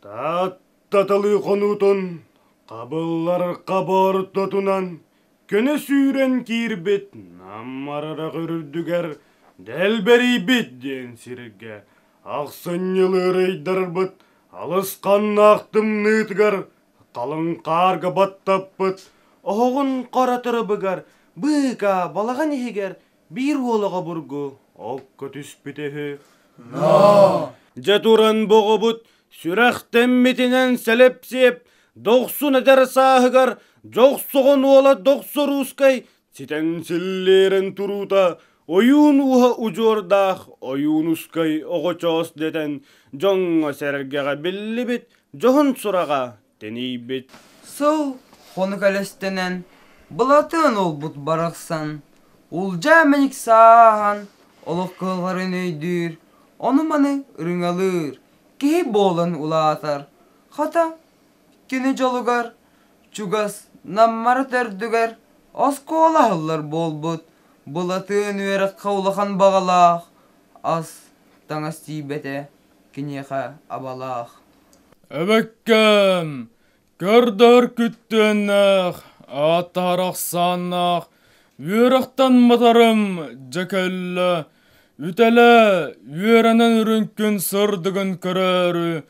Тааттаталыы хонуутун хабыллар хаба ортотунан көнө сүүрэн киирбит Нам Арарах үрдүгэр Дэлбэрийбит диэн сиргэ ахсынньы ыарыйдарбыт алысханнаах тымныытыгар халыҥ хаарга баттаппыт оһоҕун хара тырыбыгар быыкаа балаҕан иһигэр Биир уол оҕобургу окко түспүтэ үһү. Дьэ туран боҕобут сүрэхтэммитинэн сэлэпсиэп дохсун эдэр сааһыгар дьохсоҕон уола дохсо руускай ситэн силлиэрин туруута ойуун ууһа удьуордаах ойуунускай оҕочоос дэтэн дьоҥҥо сэргэҕэ биллибит дьоһун сураҕа тэнийбит. Сыл хонук элэстэнэн, Былатыан уолбут барахсан Улдьаа мэник сааһан олох кыалларын өйдүүр, ону-маны ырыҥалыыр киһи буолан улаатар. Хата, кини дьолугар, чугас Наммара төрдүгэр оскуола аһыллар буолбут Былатыан үөрэххэ улахан баҕалаах ас-таҥас тиийбэтэ. киниэхэ абалаах эбэккэм көрдөр күттүөннээх ааттаһар ахсааннаах үөрэхтэн матарым дьэ кэллэ үтэлэ үөрэнэн үрүҥкүн сырдыгын көрөөрү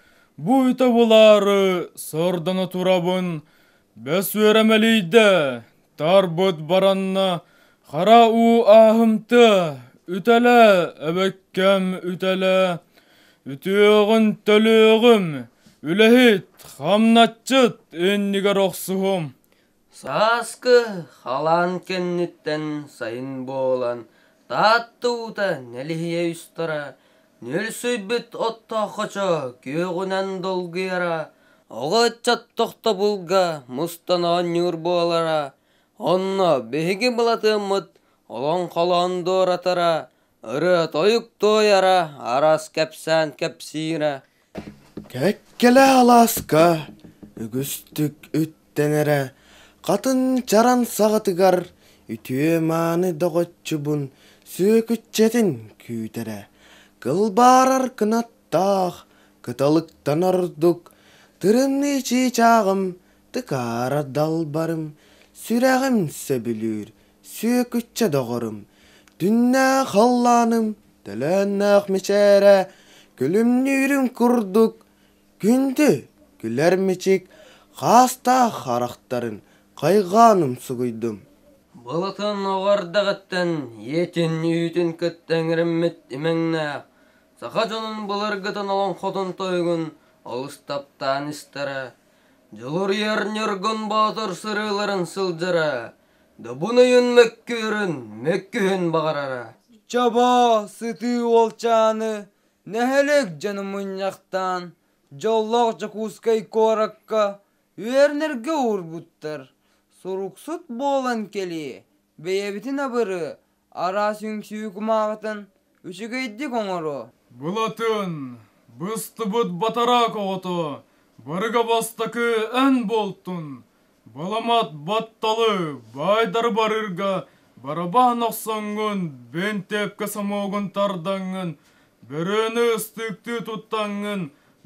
бу үтэ булаары сырдана турабын Бэс үөрэмэлийдэ, тарбыт баранна, хара уу ааһымта, үтэлэ, эбэккэм үтэлэ, үтүөҕүн төлүөҕүм, үлэһит, хамначчыт иннигэр охсуһум. Сааскы халаан кэнниттэн сайын буолан Таатта уута нэлиһийэ устара Ньүрсүйбүт оттооххочо күөҕүнэн долгуйара, оҕо ыччат тохтобулга мустан оонньуур буолара, онно биһиги былатыаммыт олоҥ холоон дуоратара, ырыа-тойук туойара, арас кэпсээн кэпсиирэ. Кэккэлэ алааска үгүстүк үктэнэрэ хатын чаран саҕатыгар үтүө-мааны доҕоччубун сүөкүччэтин күүтэрэ кылбаарар кынаттаах кыталыктан ордук тырыныы чыычааҕым тыкаара далбарым сүрэҕим сөбүлүүр Сүөкүччэ доҕорум, Түннээх халлааным, Төлөөннөөх мичээрэ, Күлүмнүүрүм курдук, Күндү, күлэр мичик, Хаастаах харахтарын Хайҕаан умсугуйдум. Былытын оҕордоҕуттан ийэтин үүтүн кытта эҥэриммит имэҥнээх саха дьонун былыргытын олоҥхотун тойугун олус таптаан истэрэ, дьулуруйар Ньургун Боотур сырыыларын сылдьара, Дабынайын мөккүөрүн мөккүһэн баҕарара. Чобо сытыы уолчааны нэһилик дьону мунньахтаан Дьоллоох Дьокуускай куоракка үөрэнэргэ уурбуттар. Суруксут буолан кэлии, бэйэбитин абыры араас үҥсүү кумааҕытын үчүгэйдик оҥоруу. Былатын, быстыбыт батараак оҕото, барыга бастакы эн буолтун! Баламат батталы баайдары барыырга барабаан охсоҥҥун, бэнтээпкэ сомоҕун тардаҥҥын, бөрөнү ыстыктыы туттаҥҥын,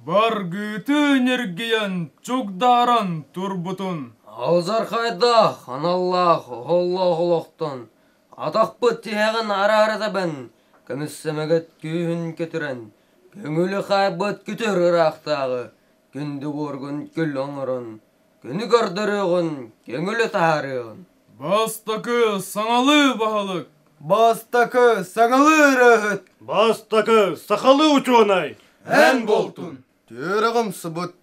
баргыты ньиргийэн, чугдааран турбутун. Алдьархайдаах аналлаах оһоллоох олохтон Атахпыт тиһэҕин араара тэбэн, көмүссэмэгэт күүһүн кэтирэн, көҥүлү хаайбыт күтүр ыраахтааҕы күндү буоргун күллэ оҥорон, күнү көрдөрүөҕүн, көҥүлү таһаарыаҕын. Бастакы саҥалыы баһылык. Бастакы саҥалыы ырыаһыт. Бастакы сахалыы учуонай. Эн буолтун. Түөрэҕим субут,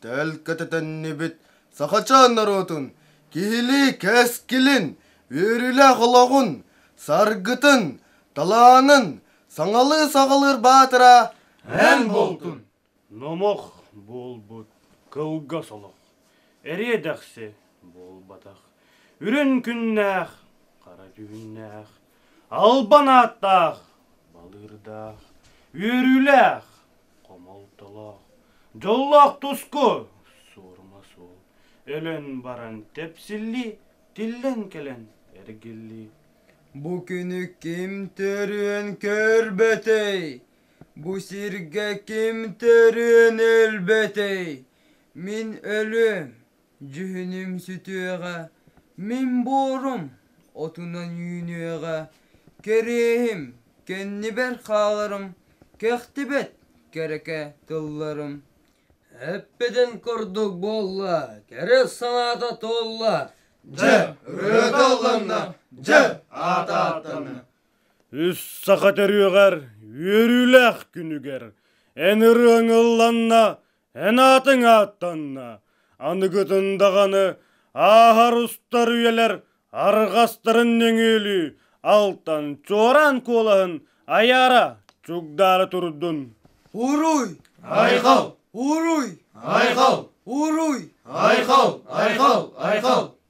төл көтөтүннүбүт сахачаан норуотун киһилии кэскилин, үөрүүлээх олоҕун, саргытын, талаанын саҥалыы саҕалыыр баатыра эн буолтун! Номох буолбут кылгас олох эриэ дэхси буолбатах үрүн күннээх хара түүннээх албан ааттаах, балыырдаах, үөрүүлээх, хомолтолоох, дьоллоох туску суорума суол өлөн баран тэпсиллии, тиллэн кэлэн эргиллии. Бу күнү ким төрүөн көрбөтөй, бу сиргэ ким төрүөн өлбөтөй, мин өлүөм. Дьүһүнүм сүтүөҕэ, мин буорум отунан үүнүөҕэ, кэриэһим, кэннибэр хааларым, кэхтибэт кэрэкэ тылларым. Эппитин курдук буолла, кэрэ санаата туолла. Дьэ, ырыата алланна, дьэ, аата ааттанна. Үс саха төрүөҕэр үөрүүлээх күнүгэр эн ырыаҥ ылланна, Эн аатыҥ ааттанна. Аныгытын даҕаны ааһар устар үйэлэр арҕастарын нөҥүөлүү алтан, чуораан куолаһын айаара чугдаары турдун. Уруй! Айхал! Уруй! Айхал! Уруй! Айхал! Айхал! Айхал!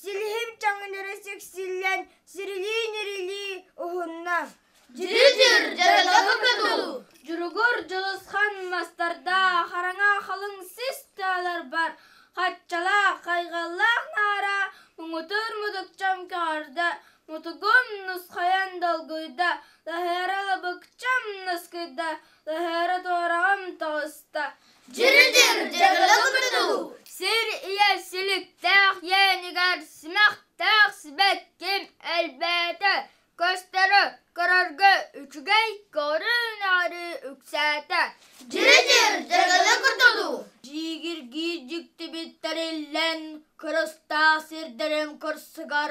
Силиһим чаҥынара сиксиллэн, сирилии-нирилии уһунна. Дьиридир дьарыга быкыдуу, Дьуругур Дьулусхан мастардаах хараҥа халыҥ сис тыаларбар хаччалаах хайҕаллаах наара муҥутуур мудукчам көҕөрдө, мутугум нусхайан долгуйда, лаһыара лабыкчам наскыйда, Тыһыары-туораҕым тоҕуста. Дьыры-дьыр, дьыгылы-кыбытылы. Сир ийэ силиктээх иэнигэр симэхтээх сибэкким элбээтэ. Көстөрү көрөргө үчүгэй, көрү-нары үксээтэ. Дьыры-дьыр, дьыгылы-кыбытылы. Дьиигиргии дьиктибит тэриллэн, кырыстаах сирдэрин кырсыгар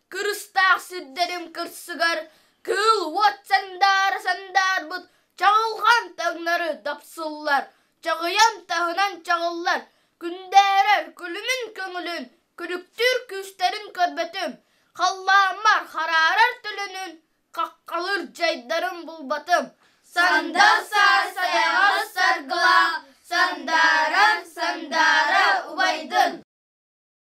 кырыстаах сирдэрим кырсыгар кыыл уот сандаара сандаарбыт чаҕылҕан таҥнары тапсыллар, чаҕыйан таһынан чаҕыллар, күндээрэр күлүмүн көҥүлүн, күлүктүүр күүстэрин көрбөтүм, халлааммар хараарар төлөнүн, хаххалыыр дьайдарым булбатым. Санда сар сайаҕас саргылаах сандааран сандаара убайдын